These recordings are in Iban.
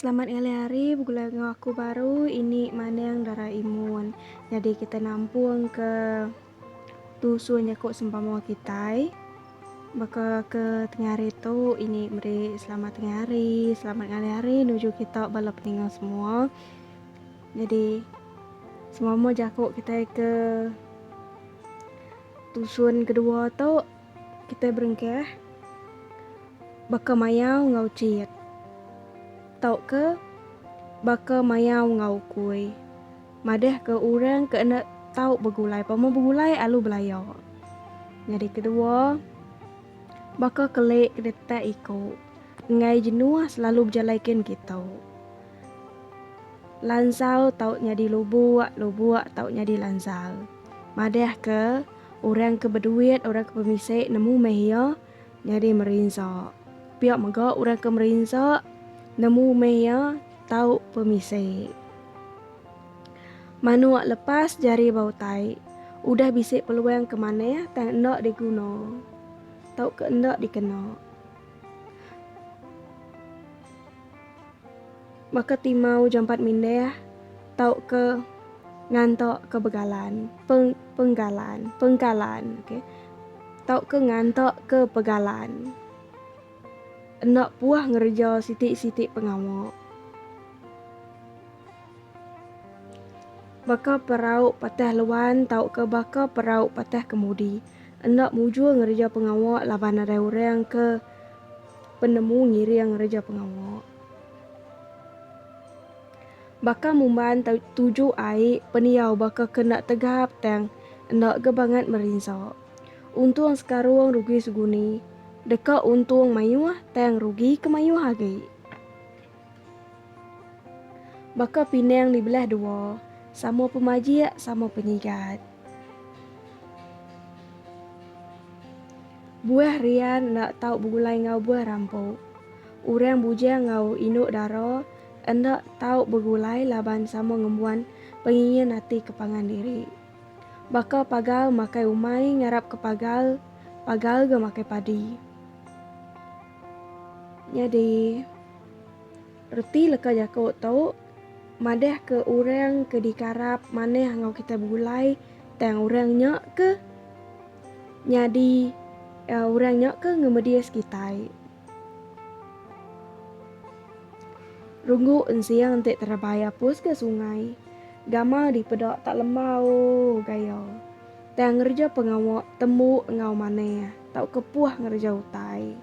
Selamat ngalih hari begulai enggau aku baru ini maning darah imun. Nyadi kita nampung ke tusun jaku sempama kitai. Baka ke tengah hari tu ini meri selamat tengah hari, selamat ngalih hari nuju kita bala peninga semua. Nyadi semua meh jaku kitai ke tusun kedua tu kitai berengkah baka mayau enggau chit tauka baka mayau enggau ukui madah ke orang ke enda tau begulai pa meh begulai alu belaya. Nyadi kedua baka keli ke detak iku enggai jenuh selalu bejalai ken kitu. Lansau tau nyadi lubuk, lubuk tau nyadi lansau. Madah ke, orang ke beduit, orang ke bemisik nemu meh iya nyadi merinsa. Pia mega orang ke merinsa nemu meh iya tau pemisik. Manuk lepas jari ba utai, udah bisi peluang ke manah tang enda diguna tauka enda dikena. Baka timau jampat mindih tauka ngantok ke begalan, peng, penggalan, pengkalan, okey, tauka ngantok ke pegalan enda puah ngereja siti-siti pengawa. Baka perau patah lewan tauka baka perau patah kemudi enda mujur ngereja pengawa laban nadai orang ke. penemu ngiring reja pengawa. Baka mumban tuju ai pendiau baka ke enda tegap tang enda ga bangat merinsa. Untung sekarung rugi seguni deka untung mayuh tang rugi ke mayuh agi. Baka pinang dibelah dua, sama pemajik, sama penyigat. Buah rian enda tau begulai enggau buah rampu. Orang bujang enggau indu dara enda tau begulai laban sama ngembuan pengingin ati ke pangan diri. Baka pagal makai umai ngarapka pagal, pagal ga makai padi. Nyadi, reti leka jaku tu madahka orang ke dikarap manah enggau kitai begulai tang orang nya ke nyadi orang nya ke ngemedis kitai. Runggu ensing enti terebai apuska sungai, gamal dipeda tak lembau gaya tang ngereja pengawa tembu enggau manah. tau kepuh ngereja utai.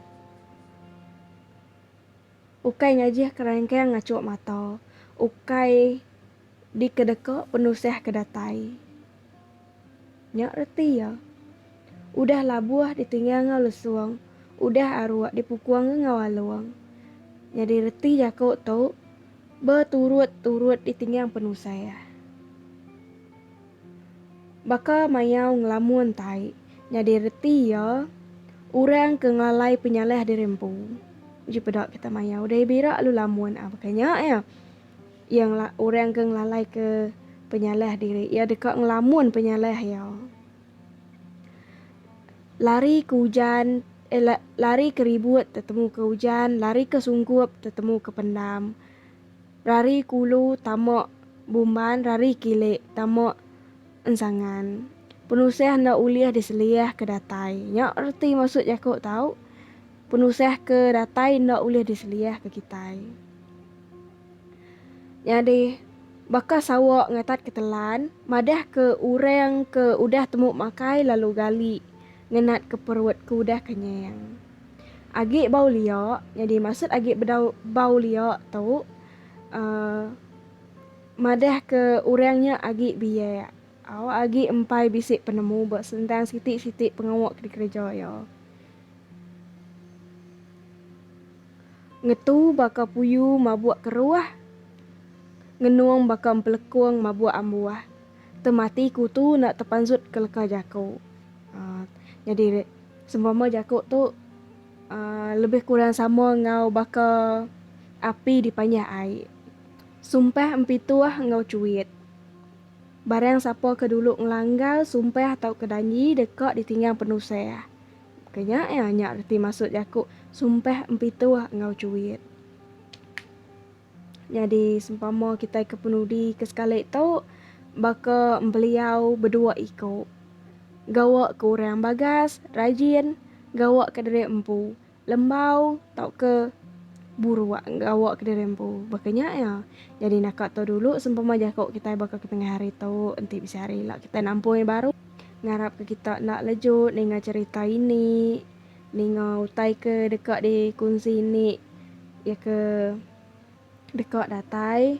Ukai ngajih kerengkeng ngachuk mata, ukai dikedeka penusah ke datai. Nya reti iya. Udah labuh ditinggal enggau lesung, udah aruk dipukung enggau alung. Nyadi reti jaku tu, beturut-turut ditinggang penusah. Baka mayau ngelamun tai nyadi reti iya, orang ke ngalai penyalah diri empu. Uji peda kita mayau dai bira alu lamun a baka nya iya. Iya ngela orang ke ngelalaika penyalah diri iya deka ngelamun penyalah iya. Lari ke ujan eh lari ke ribut tetemuka ujan, lari ke sungkup tetemuka pendam. Rari kulu tama bumban rari kili tama ensangan. Penusah enda ulih diselih ke datai. Nya reti maksud jaku tau. Penusah ke datai enda ulih diselih ke kitai. Nyadi baka Sawa ngatat ke Telan madah ke orang ke udah temu makai lalu gali ngenat ke perut ke udah kenyang. Agi bau lia, nyadi maksud agi bedau bau lia tu uhh madah ke orang nya agi biak au agi empai bisi penemu ba sentang siti-siti pengawa ke dikereja iya. Ngetu baka puyu mabuk keruh, ngenung baka empelekung mabuk ambuh, temati kutu enda tepanzut ke leka jaku. Uhh nyadi. Sempama jaku tu lebih kurang sama enggau baka api dipanyah ai. Sumpah empituh enggau chuit. Barang sapa ke dulu ngelanggar sumpah tauka danji deka ditinggang penusah. Ke nya iya nya reti maksud jaku sumpah empituh enggau chuit. Nyadi sempama kitai ke penudi ke sekali tu baka Beliau bedua iku. Gawa ke orang bagas, rajin, gawa ke diri empu, lembau tauka buruk gawa ke diri empu. Baka nya iya. Nyadi naka tu dulu sempama jaku kitai baka ketengah hari tu enti bisi hari ila kitai nampung ari baru. Ngarap ke kita enda lejut ninga cherita ini. ninga utai ke deka dikunsi indi iya ke deka datai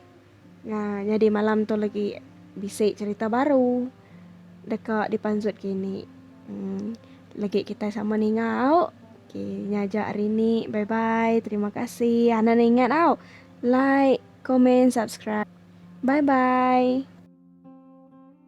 aaa nyadi malam tu legi bisi cerita baru deka dipansut ke indi emm legi kitai sama ninga au oke nya aja hari ni bye bye terima kasih aa nan ingat au like comment subscribe bye bye.